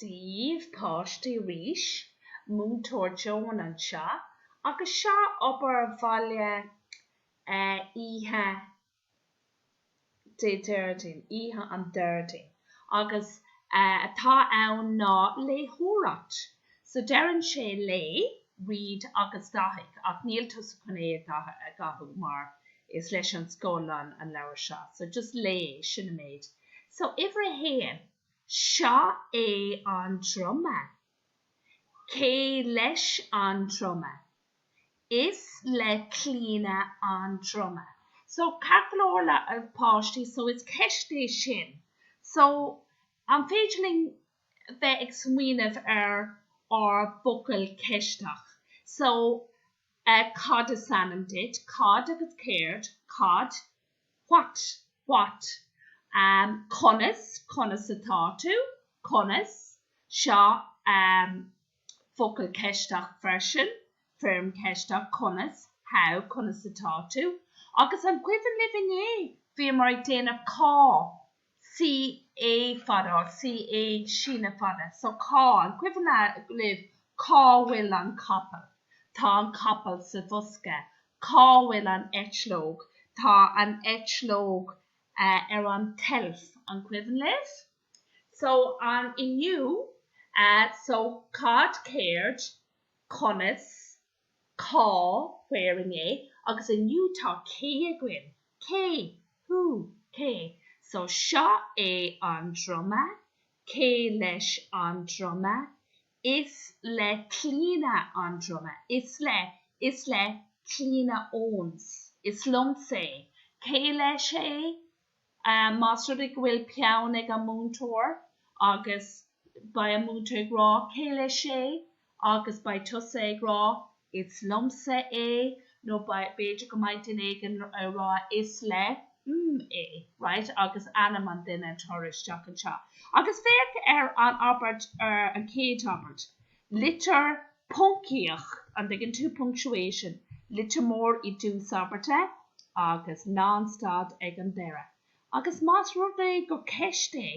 daoibh páistí arís, múinteoir Joan anseo agus seo obair bhaile oíche Déardaoin, oíche an Déardaoin, agus atá ann ná léitheoireacht. So deireann sé léigh, read agus dathaigh, ach níl tusa chun é a dhathú mar is leis an scoil an leabhar seo, so just léigh, sin an méid. So uimhir a haon. Seo é an druma. Cé leis an druma? Is le Clíona an druma. So ceart go leor a pháistí so is ceist é sin. So an féidir linn bheith ag smaoineamh ar an bhfocal ceisteach. So cad is ainm duit? Cad agus céard? Cad? what, what? conas, conas atá tú? conas? Seo focal ceisteach freisin, foirm cheisteach, conas, how, conas atá tú? Agus an cuimhin libh nuair a bhíomar ag déanamh cá, C A fada, C A síneadh fada, so cá, an cuimhin libh cá bhfuil an capall? Tá an capall sa bhosca. Cá bhfuil an eitleog? Tá an eitleog ar an tseilf. An cuimhin libh? So, an, inniu, so, cad, céard, conas, Cá, where, inné agus inniu tá cé againn? Cé? Who? Cé? So seo é an druma. Cé leis an druma? Is le Clíona an druma. Is le, is le Clíona Owens. Is liomsa é. Cé leis é? Más rud é go bhfuil peann ag an múinteoir agus beidh an múinteoir ag rá 'cé leis é? agus beidh tusa ag rá 'is liomsa é' nó b'fhéidir go mbeidh duine éigin ag rá 'is le, mm, é', right, agus ainm an duine a chur isteach anseo. Agus féach ar an abairt, ar an chéad abairt. litir poncaíocht, an dtuigeann tú punctuation, litir mór i dtús abairte agus lánstad ag an deireadh, agus más rud é gur ceist é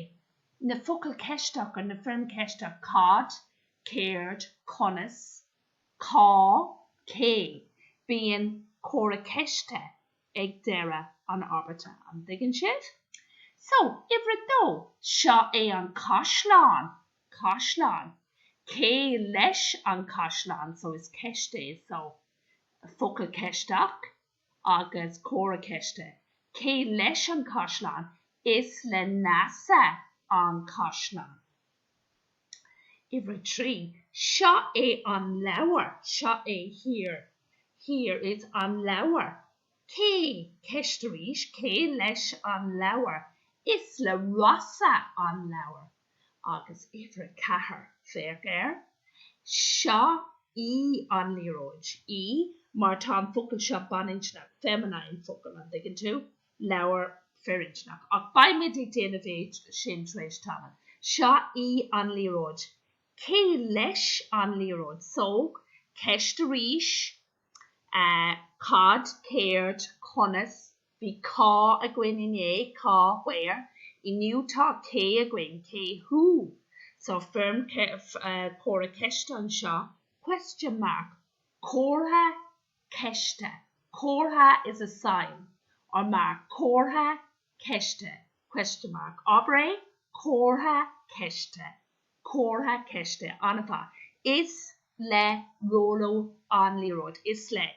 na focail ceisteacha, na foirm ceisteach, cad, céard, conas, cá, cé, bíonn comhartha ceiste ag deireadh an abairte, an dtuigeann sibh? So, uimhir a dó, seo é an caisleán! caisleán. Cé leis an caisleán so is ceist é so. Focal ceisteach agus comhartha ceiste. Cé leis an caisleán? Is le Neasa an caisleán. Uimhir a trí, Seo é an leabhar. Seo é Here, here is an leabhar. Cé, ceist arís, cé leis an leabhar? Is le Rossa an leabhar. agus uimhir a ceathair, féach air. Seo í an liathróid. í mar tá an focal seo baininscneach, feminine focal, an dtuigeann tú? leabhar firinscneach. Ach beidh muid ag déanamh é sin tar éis tamaill. Seo í an liathróid. Cé leis an liathróid? So, ceist arís. ehh, cad, céard, conas, Bhí cá againn inné, cá where. Inniu tá cé againn, cé who. So foirm comhartha ceiste anseo, question mark, comhartha ceiste, comhartha is a sign or mark, comhartha ceiste, question mark, abair é, comhartha ceiste, comhartha ceiste, an-mhaith, is le Róló an liathróid, is le.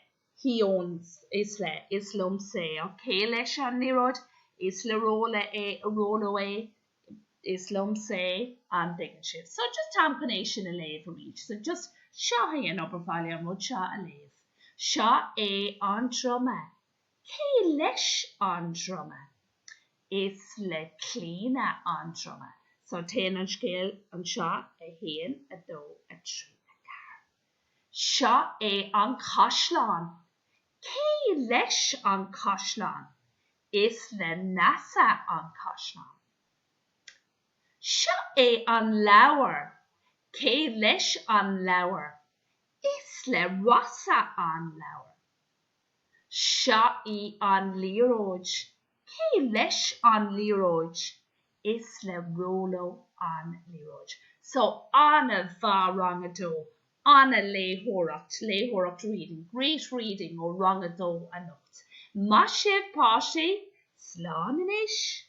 He owns, is le, is liomsa é, or cé leis an liathróid? is le Róló é, Róló é, is liomsa é, an dtuigeann sibh. So, just táim chun é sin a léamh arís. So, just, seo é an obair bhaile, an rud seo a léamh. Seo é an druma. Cé leis an druma? Is le Clíona an druma. So, téann an scéal anseo, a haon, a dó, a trí, a ceathair. Seo é an caisleán. Cé leis an caisleán? Is le Neasa an caisleán. Seo é an leabhar. Cé leis an leabhar? Is le Rossa an leabhar. Seo í an liathróid. Cé leis an liathróid? Is le Róló an liathróid. So, an-mhaith, rang a dó. An-léitheoireacht, léitheoireacht reading, great reading ó rang a dó anocht. Maith sibh, páistí! Slán anois!